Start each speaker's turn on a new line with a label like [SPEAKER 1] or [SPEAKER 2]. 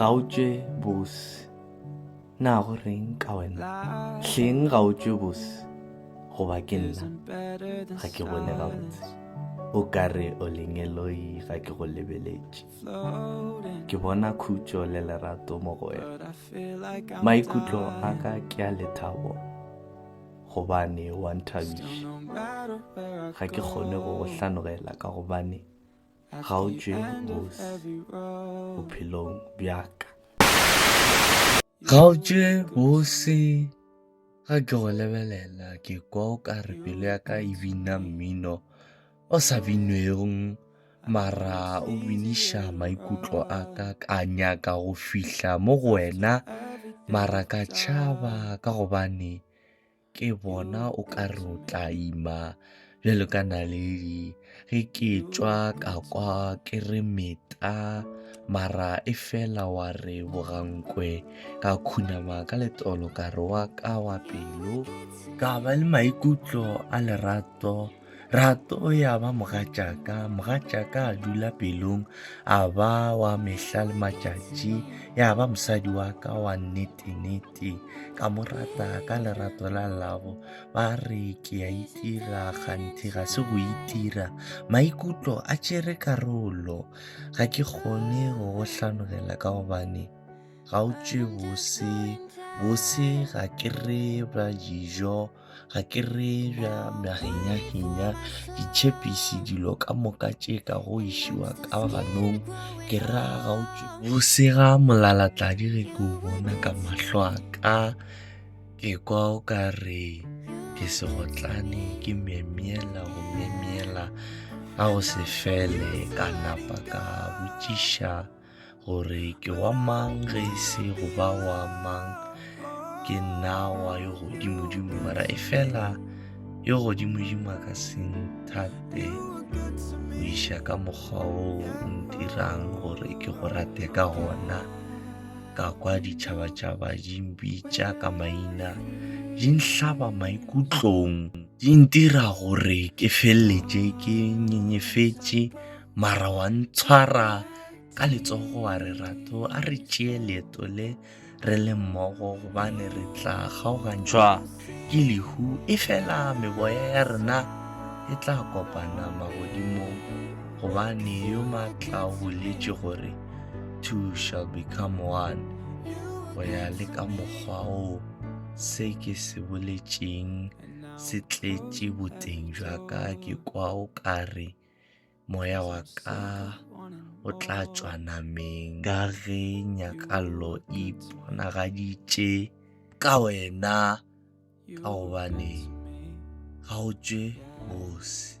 [SPEAKER 1] ga o tšwe bose na go reng ka wena hleng ga o tšwe bose goba ke nna ga ke bone gabotse o ka re o lengeloi ga ke go lebeletše ke bona khutšo le lerato mo go wena maikutlo a ka ke a lethabo gobane wa nthabiša ga ke kgone go go hlanogela ka gobane ga o tšwe bosi bophelong bjaka ga o tšwe bosi ga ke go lebelela ke kwa o ka re pelo ya ka e bina mmino o sa binwegong mara o biniša maikutlo a ka ka nyaka go fihla mo go wena mara ka tšhaba ka gobane ke bona o ka re o tla ima bjalo ka naledi ge ke tšwa ka kwa ke re meta mara e fela wa re bogankwe ka khunama ka letolo ka re wa ka wa pelo ka ba le maikutlo a lerato rato ya ba mogatšaka mogatšaka a dula pelong a ba wa mehla le matšatši ya ba mosadi wa ka wa nnete-nnete ka mo rata ka lerato la labo ba re ke a itira kganthe ga se go itira maikutlo a tšere karolo ga ke kgone go go hlanogela ka gobane ga o tšwe bose bose ga ke re ba dijo ga ke re bja mahinyahinya ditšhepisi dilo ka moka tše ka go išiwa ka ganong ke ra ga o tšwe go sega molalatladi ge ke o bona ka mahlo a ka ke kwa o ka re ke segotlane ke myemyela go myemyela ga go se fele ka napa ka botšiša gore ke wa mang ge e se go ba wa mang ke nna wa yo godimodimo mara e fela yo godimodimo a ka se nthate go iša ka mokgwa o o ntirang gore ke go rate ka gona ka kwa ditšhabatšhaba di mpitša ka maina di nhlaba maikutlong di ntira gore ke feleletše ke nyenyefetše mara wa ntshwara ka letsogo wa re ratho a re tšee leeto le re le mmogo gobane re tla kgaogantšhwa ke lehu e fela meboya ya rena e tla kopana magodimong gobane yo maatla o boletše gore two shall become one go ya le ka mokgwa o se ke se boletšeng se tletše boteng jwa ka ke kwa o ka re moya wa ka o tla tšwa nameng ka ge nyakallo e ponagaditše ka wena ka gobane ga o tšwe bose